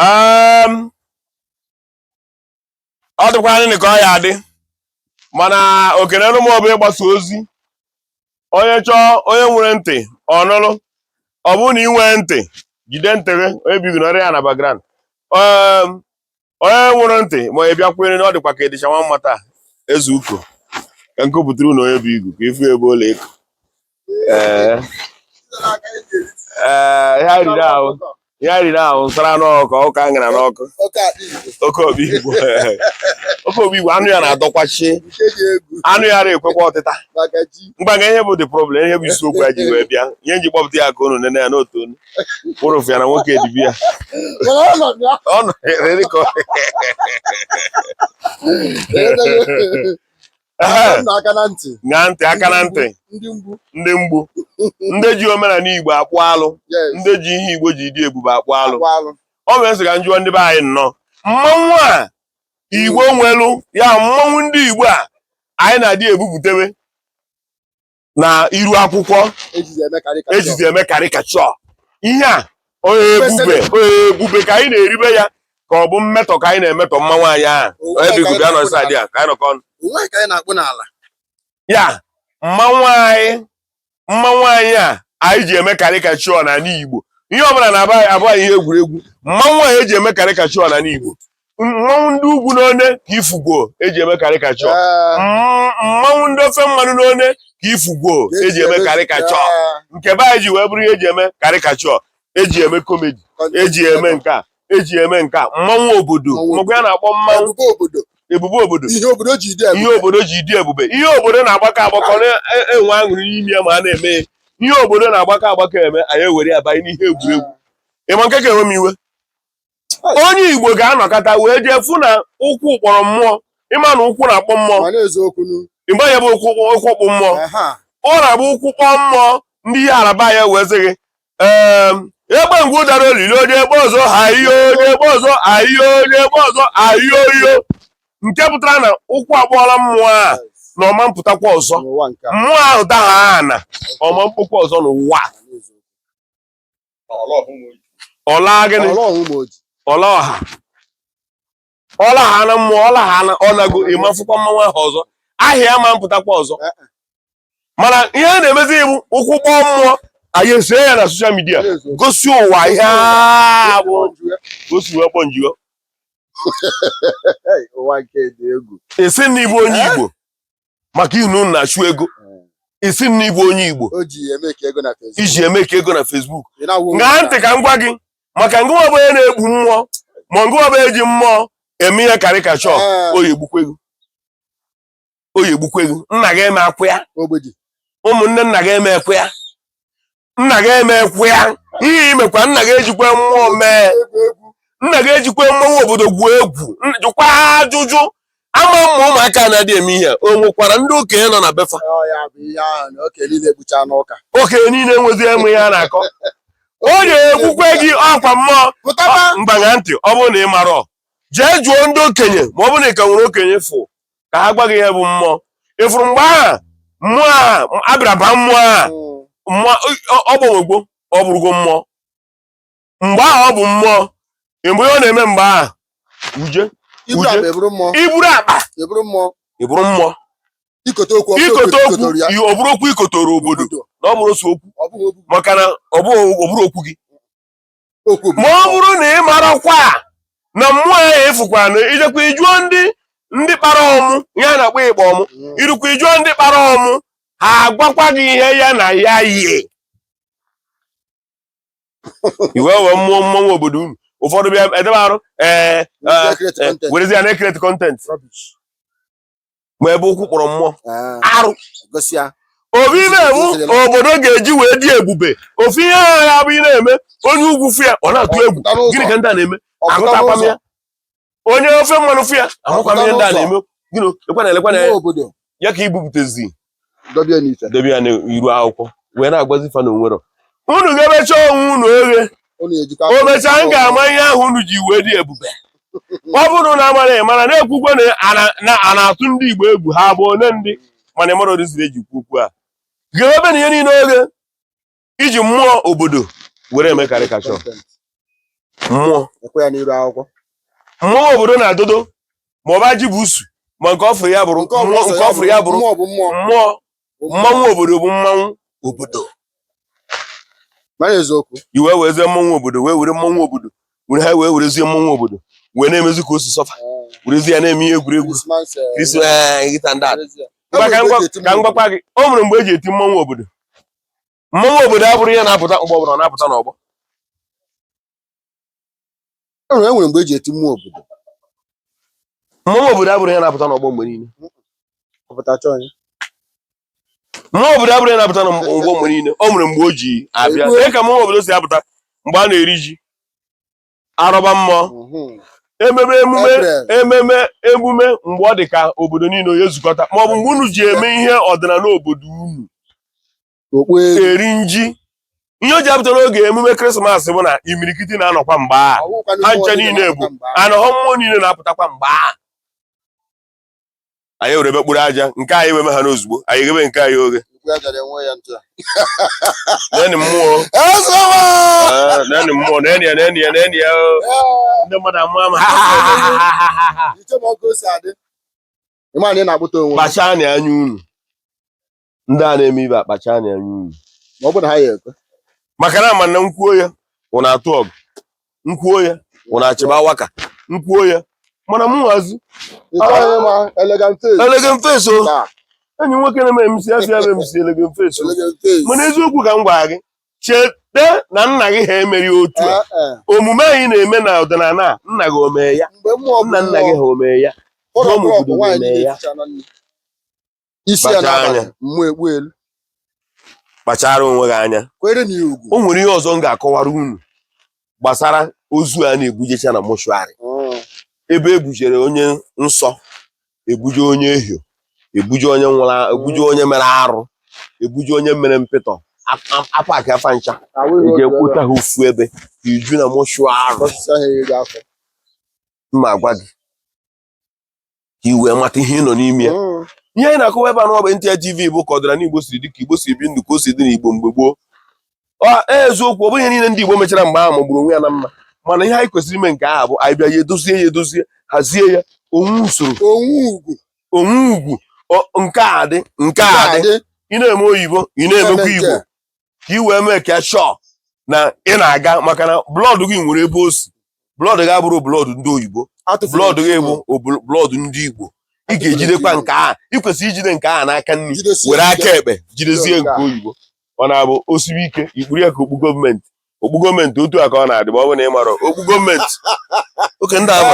um, ọ dịkwa anyị ka ọ ya adị mana oke nelu m ọ bụ ịgbasa ozi onye chọọ onye nwere ntị ọ nụlụ ọ bụrụ na ị nwee ntị jide ntị gị onye bigoro ọrịa ya na background um, onye nwụrụ ntị ma ị bịakwere na ọ dịkwa ka ịdịcha nwa mma taa eze uko ka nke pụtara na onye bụ igu ka ịfụ ebe ụlọ ịkụ ee ee ihe riri ahụ ihe riri ahụ nsara n'ọkụ ọka ngara n'ọkụ oke obi igbo oke obi igbo anụ ya na-adọkwachi anụ ya na-ekwekwa ọtịta mgbaga ihe bụ the problem ihe bụ isiokwu ya ji wee bịa ihe nji kpọpụta ya ka unu nene ya n'otu onu unu fụ ya na nwoke dibịa ọ nọ ere ka ọ aka na ntị na ntị aka na ntị ndị mgbu ndị ji omenala igbo akpụ alụ ndị ji ihe igbo ji dị ebube akpụ alụ ọ bụ m sị ka m jụọ ndị be anyị nnọọ mmanwụ a igbo nwelu ya mmanwụ ndị igbo a anyị na-adị ebupụtewe na iru akwụkwọ ejizi eme caricature ihe a ọ ebube ọ ebube ka anyị na-eribe ya ka ọ bụ mmetọ ka anyị na-emetọ mmanwụ anyị ahụ onye bụ igube anọ nsọ adị ya ka anyị nọkọ ọnụ ya mmanwụ anyị mmanwụ anyị a anyị ji eme caricature n'anị Igbo ihe ọbụla na-abụ anyị ihe egwuregwu mmanwụ a eji eme caricature n'anị Igbo mmanwụ ndị ugwu n'one ka ị fụgo eji eme caricature mmanwụ ndị ofe mmanụ n'one ka ị fụgo eji eme caricature nke be anyị ji wee bụrụ ihe eji eme caricature eji eme comedy eji eme nke a eji eme nke a mmanwụ obodo mgbe a na-akpọ mmanwụ ebube obodo ihe obodo ji dị ebube ihe obodo na-agbakọ agbakọ na-enwe aṅụrị n'ime ya ma a na-eme ihe obodo na-agbakọ agbakọ eme anyị ewere ya banye n'ihe egwuregwu ị ma nke ka ewe m iwe onye igbo ga-anọkata wee jee fụ na ụkwụ kpọrọ mmụọ ị ma na ụkwụ na-akpọ mmụọ ịgba ya bụ ụkwụ ụkwụ kpọọ mmụọ ọ na-abụ ụkwụ kpọọ mmụọ ndị ihe araba ya wee sị gị egbe ngwu dara olili onye egbe ọzọ ahịa onye egbe ọzọ ahịa onye egbe ọzọ ahịa oyo nke pụtara na ụkwụ akpọọla mmụọ a na ọ ma mpụtakwa ọzọ mmụọ ahụ daha ana ọ ma mkpụkwa ọzọ n'ụwa ọ la gịnị ọ la ọha ọ lagha na mmụọ ọ lagha na ọ nago ị ma afụkwa mmanwụ ahụ ọzọ ahịa ma mpụtakwa ọzọ eh, eh. mana ihe a na-emezi bụ ụkwụ kpọọ mmụọ anyị esie ya na social media gosi ụwa ihe bụ gosi ụwa kpọ nji wee sị na ị bụ onye eh? Igbo maka ị nọ na-achụ ego ị sị na ị bụ onye Igbo iji e-make ego na Facebook ṅaa ntị ka m gwa gị maka ngịwa bụ onye na-ekpu mmụọ ma ngịwa bụ eji mmụọ eme ihe caricature oyi egbukwe gị oyi egbukwe gị nna gị emekwa ya ụmụnne nna gị emekwa ya nna gị emekwa ya ihe imekwa nna gị ejikwa mmụọ mee nna gị ejikwa mmanwụ obodo gwuo egwu jụkwa ajụjụ ama m ma ụmụaka na-adị eme ihe o nwekwara ndị okenye nọ na be fa okenye niile enwezi eme ihe a na-akọ oyi egbukwe gị ọkwa mmụọ mgbagha ntị ọ bụrụ na ị marọ jee jụọ ndị okenye ma ọ bụrụ na ị ka nwere okenye fọ ka ha gwa gị ihe bụ mmụọ ị fụrụ mgbe ahụ mmụọ a a bịara baa mmụọ a mmụọ ọ gbanwegwo ọ bụrụgo mmụọ mgbe ahụ ọ bụ mmụọ mgbe ọ na-eme mgbe ahụ uje iburu akpa eburu mmụọ iburu akpa eburu mmụọ eburu mmụọ ikote okwu ikote okwu ọ bụrụ okwu i kotoro obodo na ọ bụrọ sọ okwu maka na ọ bụrọ okwu gị ma ọ bụrụ na ị marakwa na mmụọ ahụ efukwa na i jekwa ị jụọ ndị ndị kpara ọmụ ihe a na-akpọ ịkpa ọmụ mm. i rukwa ị jụọ ndị kpara ọmụ ha agwakwa gị ihe ya na ya yie i wee were mmụọ mmọnwụ obodo unu ụfọdụ bịa edebe arụ ee eh, eh, eh, werezie na-ecreate content ma ebe ụkwụ kpọrọ mmụọ ah. arụ ọ bụ ihe mmọnwụ obodo ga-eji wee dị ebube ofu ihe ahụ ya bụ ị na-eme onye ugwu fụ ya ọ na-atụ egwu gịnị ka ndị a na-eme ahụtakwa m ya onye ofe mmanụ fụ ya ahụkwa m ihe ndị a na-eme gịnị ekwana elekwana ya ya ka ibupụtezi dobe ya n'ite dobe ya n'iru akwụkwọ wee na-agwazi fa na o nwerọ unu ga-emecha onwe unu oghe ọ na-ejikwa o mechaa m ga-ama ihe ahụ unu ji wee dị ebube ọ bụrụ na amara ị mara na-ekwukwe na a na- na a na-atụ ndị Igbo egwu ha bụ ole ndị mana ị marọ odiziri eji kwu okwu a ga-ebe na ihe niile oghe iji mmụọ obodo were eme caricature mmụọ mmanwụ obodo na-adodo ma ọ bụ Ajibusu ma nke ọfụrụ ya bụrụ nke ọfụrụ ya bụrụ mmụọ mmanwụ obodo bụ mmanwụ obodo i wee werezie mmanwụ obodo wee were mmanwụ obodo were ha wee werezie mmanwụ obodo wee na-emezi ka o si sọ fa werezie ya na-eme ihe egwuregwu ka m gwakwa gị o nwere mgbe eji eti mmanwụ obodo mmọnwụ obodo abụrọ ihe na-apụta ọgbọ ọbụla ọ na-apụta n'ọgbọ e nwere e nwere mgbe eji eti mmụọ obodo mmọnwụ obodo abụrọ ihe na-apụta n'ọgbọ mgbe niile ọpụta chọọ ya mmọnwụ obodo abụrọ ihe na-apụta n'ọgbọ mgbe niile o nwere mgbe o ji abịa ee. lee ka mmọnwụ obodo si apụta mgbe a na-eri ji arọba mmụọ mhm. ememe emume ememe emume mgbe ọ dị ka obodo niile onye zukọta ma ọ bụ mgbe unu ji eme ihe ọdịnala obodo unu eri nji ihe o ji apụta n'oge emume krismas bụ na imirikiti na-anọkwa mgbe a ha ncha niile bụ anọghọ mmụọ niile na-apụtakwa mgbe a anyị were ebe kpụrụ aja nke anyị weme ha n'ozugbo anyị ghebe nke anyị oghe neni mmụọ neni mmụọ neni ya neni ya neni ya ndị mmadụ amụọ ama kpachaa anya unu ndị a na-eme ibe akpacha anya anya unu ma ọ bụrụ na ha ya ekwe maka na ama m na m kwuo ya ụna atụ ọgụ m kwuo ya ụna achịba waka m kwuo ya mana m nwazi elegen feso enyi nwoke na-eme emisi asị ya bụ emisi elegen feso mana eziokwu ka m gwara gị cheta na nna gị ha emeghị otu a eh, eh. omume anyị na-eme na ọdịnala nna gị omee ya nna nna gị ha omee ya ya isi ya Kpachara n'abalị anya. mmụọ ekpu elu kpachara onwe gị anya kwere na ya ugwu o nwere ihe ọzọ m ga-akọwara unu gbasara ozu a na-ebujecha na mọshụarị Mm. ebe ebujere onye nsọ ebuje onye ehio ebuje onye nwụrụ a- ebuje onye mere arụ ebuje onye mere mpịtọ a- a- apakịa fa ncha Ahụ ihe eji otu ebe ekwuta ha ofu ebe iju na mọshụarị a, ọsịsa ha eri gị afọ m na-agwa gị i wee mata ihe ị nọ n'ime ya mm. ihe anyị na-akọwa ebe a nọ bụ NTA TV bụ ka ọdịnala Igbo siri dị ka Igbo si ebi ndụ ka o si dị n'Igbo mgbe gboo e, eziokwu ọ bụghị ihe niile ndị Igbo mechara mgbe ahụ magburu onwe ya na mma mana ihe anyị kwesịrị ime nke a bụ anyị bịa ya edozie ya edozie hazie ya o nwee usoro o nwee ugwu nke a dị nke a dị ị na-eme oyibo ị na-emekwa Igbo ka i wee meek shọ na ị na-aga maka na blọọdụ gị nwere ebe o si blọọdụ gị abụrọ blọọdụ ndị oyibo blọọdụ gị bụ blọọdụ ndị igbo ị ga-ejidekwa nke a ị kwesịrị ijide nke a n'aka nri were aka ekpe jidezie nke oyibo ọ na-abụ o sibe ike i kpuru ya ka okpu gọọmenti okpu gọọmenti otu a ka ọ na-adị ma ọ bụ na ị marọ okpu gọọmenti oke ndị ahụ